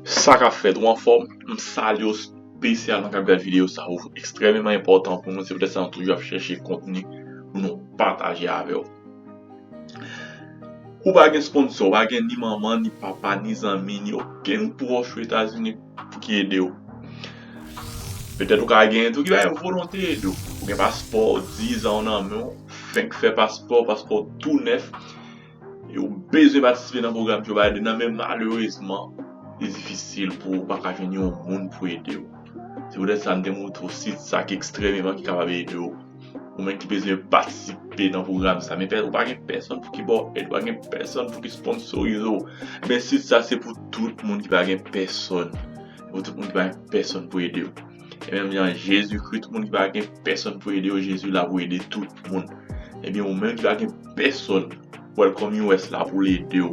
Sa kap fèt ou anfòm m salye w spesyalman kap gad videyo sa ou ekstrèmeman enpòtan pou nou se poutèt sa nou toujou ap chèche kontni pou nou pataje avè w ou pa gen sponsò ou pa gen ni manman ni papa ni zanmi ni okenn pwòch ou etazini pou ki ede w petèt ou ka gen tou ki bay volonte ede w ou gen paspò dizan w nan men w fenk fè paspò paspò w tou nèf. Yo bezwen patisipe nan pwogram Joe Biden nan men malerezman li difisil pou ou paka jwenn yon moun pou ede ou. Se poutèt sa m te montre ou sit sa ki ekstrèmeman ki kapab ede ou. Ou menm ki bezwen patisipe nan pwogram sa men ou pa gen pèsonn pou ki ba w èd, ou pa gen pèsonn pou ki sponsorize ou, men sit sa se pou tout moun ki pa gen pèsonn, pou tout moun ki pa gen pèsonn pou ede ou. E menm jan Jezi kri tout moun ki pa gen pèsòn pou ede yo Jezi la pou ede tout moun. Ebyen ou menm ki pa gen pèsòn Welcome US la pou l ede w.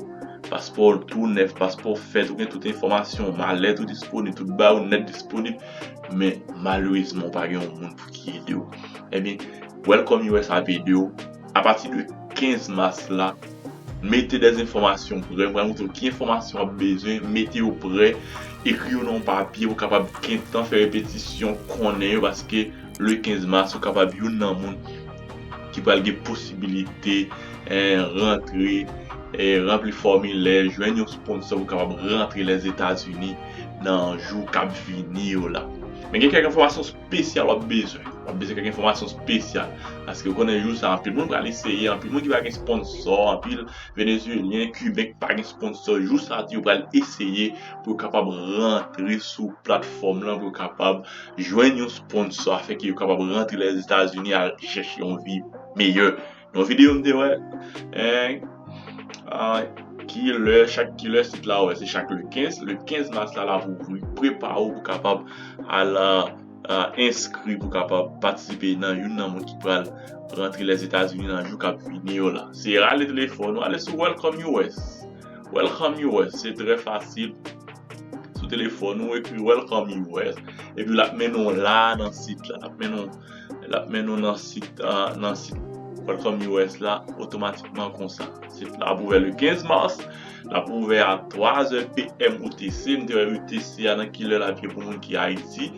Paspò w tou nèf, paspò w fèt, ou gen tout enfòmasyon w, malèt ou disponib, tout bagay ou nèt disponib men malerezman ou pa gen yon moun pou ki ede w. Ebyen Welcome US ap ede w. Apati de 15 mas la, mete dè enfòmasyon prè. M pral montre w ki enfòmasyon w ap bezwen. Mete yo prè. Ekri yo nan yon papye. Ou kapab gentan fè repetisyon, konnen yo paske le 15 mas ou kapab youn nan moun ki pral gen posibilite rantre, ranpli fòmilè, jwenn yon sponsò pou kapab rantre Lèzetazini nan jou k ap vini yo la. Men gen kèk enfòmasyon. spesyal wap bezwen. Wap bezwen kèk enfòmasyon spesyal. Paske ou konnen jou sa anpil moun pral eseye, anpil moun ki pa gen sponsò, anpil Venezuelyen, Kiben ki pa gen sponsò, jou sa tou yo pral eseye pou yo kapab rantre sou platfòm lan, pou yo kapab jwenn yon sponsò afenke yo kapab rantre Lèzetazini al chèche yon vi meyè. Yon video m te wè ki lè chak ki lè sit la wè se chak le 15 le 15 mas la lap ouvri prepa ou pou kapab al enskri pou kapab patisipe nan youn nan moun ki pral rantre lèzetazini nan jou kap vini yo la se rale telefòn ou ale sou welcome us welcome us se trè fasil sou telefòn ou ekri welcome us epi lap mennen w la nan sit la lap mennen w Lap mennen w nan sit nan sit Welcome US la otomatikman konsa. Sit la ap ouvè le 15 mars, lap ouvè a 3 zè PM UTC. M te wè UTC a nan kilè lap ye pou moun ki Ayiti.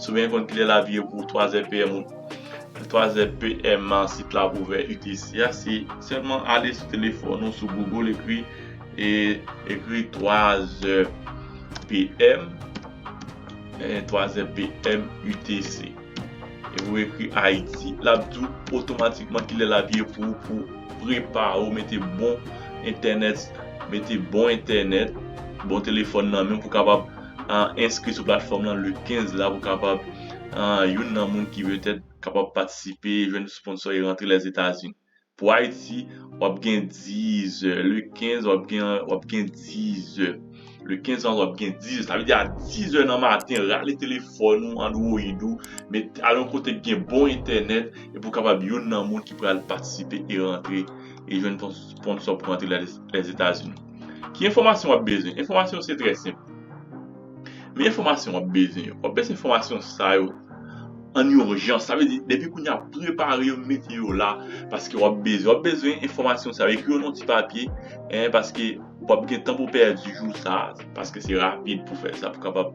Si w gen konn kilè lap ye pou 3 zè PM 3 zè PM sit la ap ouvè UTC a se sèlman ale sou telefòn ou sou Google ekri ekri 3 zè PM. Enh twazè PM UTC. Epi ou ekri Ayiti lap di w otomatikman kilè lap ye pou ou pou prepare w mete bon entènèt mete bon entènèt bon telefòn nan menw pou kapab enskri sou platfòm lan le 15 la pou kapab youn nan moun ki petèt kapab patisipe jwenn sponsò e rantre Lèzetazini. Pou Ayiti, w ap gen 10 è. Le 15, w ap gen, w ap gen 10 è. Le 15 an, w ap gen 10 è. Sa vle di a 10 è nan maten, rale telefòn ou, android ou, met, al yon kote k gen bon entènèt epi ou kapab youn nan moun ki pral patisipe e rantre e jwenn ton sponsò pou rantre Lèzetazini. Ki enfòmasyon w ap bezwen? Enfòmasyon yo se trè senp. Men enfòmasyon wap bezwen yo. Wap bezwen enfòmasyon sa yo an urjans. Sa vle di depi kounye a prepare yo mete yo la paske wap bezwen. Wap bezwen enfòmasyon sa yo. Ekri yo nan yon ti papye paske pap gen tan pou pèdi jou sa paske se rapid pou fè sa pou kapab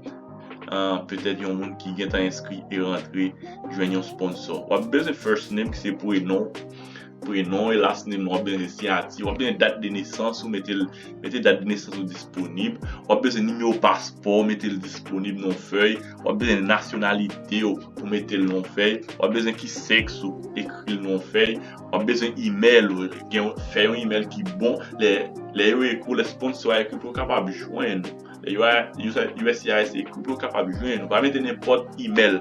petèt yon moun ki gentan enskri e rantre jwenn yon sponsor. Wap bezwen first name ki se prenon ou. Prenon e last name ou ap bezwen siyati, ou ap bezwen dat de nesans ou mete l, mete dat de nesans ou disponib, ou ap bezwen nimewo paspò ou mete l disponib nan yon fèy, ou ap bezwen nasyonalite ou pou mete l nan yon fèy, ou ap bezwen ki sèks ou ekri l nan yon fèy, ou ap bezwen imèl ou, gen yon, fè yon imèl ki bon, lè, lè yo ekri w, lè sponsò a ekri w pou yo kapab jwenn ou. uscis e kote w kapab jwenn nou. Pa mete nenpòt imèl.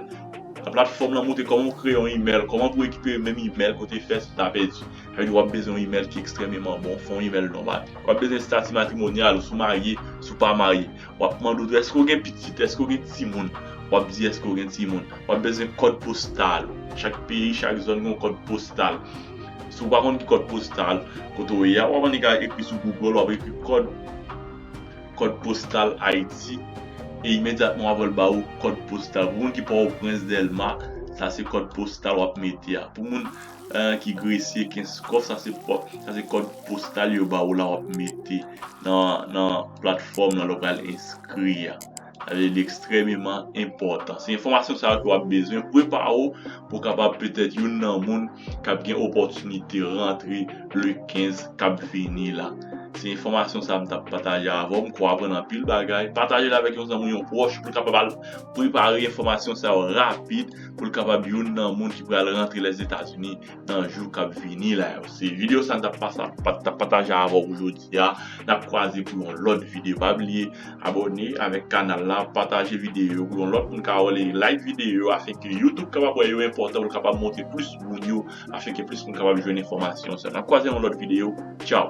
Nan platfòm lan montre kòman ou kreye yon imèl, kòman pou rekipere menm imèl kote w fè si w ta pèdi. Sa vle di w ap bezwen yon imèl ki ekstrèmeman bon, fè yon imèl nòmal. W ap bezwen estati matrimonyal ou, si w marye, si w pa marye. W ap mande w tou èske w gen pitit, èske w gen timoun. W ap di èske w gen timoun. W ap bezwen kòd postal ou. Chak peyi, chak zòn gen yon kòd postal. Si w pa konn ki kòd postal kote w ye a, w ap annik al ekri sou Google, w ap ekri kòd. kòd postal Ayiti e imedyatman wap wè l ba ou kòd postal pou moun ki pòtoprens dèlma sa se kòd postal wap mete a pou moun ki gresye kenskòf sa se kòd postal yo ba ou la wap mete nan platfòm nan lè ou pral enskri a. Li ekstrèmeman enpòtan. Se enfòmasyon sa yo ke w ap bezwen pou prepare w pou w kapab petèt youn nan moun k ap gen opòtinite rantre le 15 k ap vini la. Se enfòmasyon sa a m t ap pataje avè w. M kwè w aprann anpil bagay. Pataje l avèk yon zanmi w, yon pwòch pou l kapab al prepare enfòmasyon sa yo rapid pou l kapab youn nan moun ki pral rantre Lèzetazini nan jou kap vini la yo se video sa mtap pasa mtap pataje avèw pou jodia nap kwaze pou yon lòt video pa bliye abòne avèk kanal la pataje video yo pou yon lòt moun ka wèl e like video yo afin ke youtube kapab wè yo enpòtan poul kapab montre plis moun yo afin ke plis moun kapab jwenn enfòmasyon sa nap kwaze nan yon lòt video tchaw.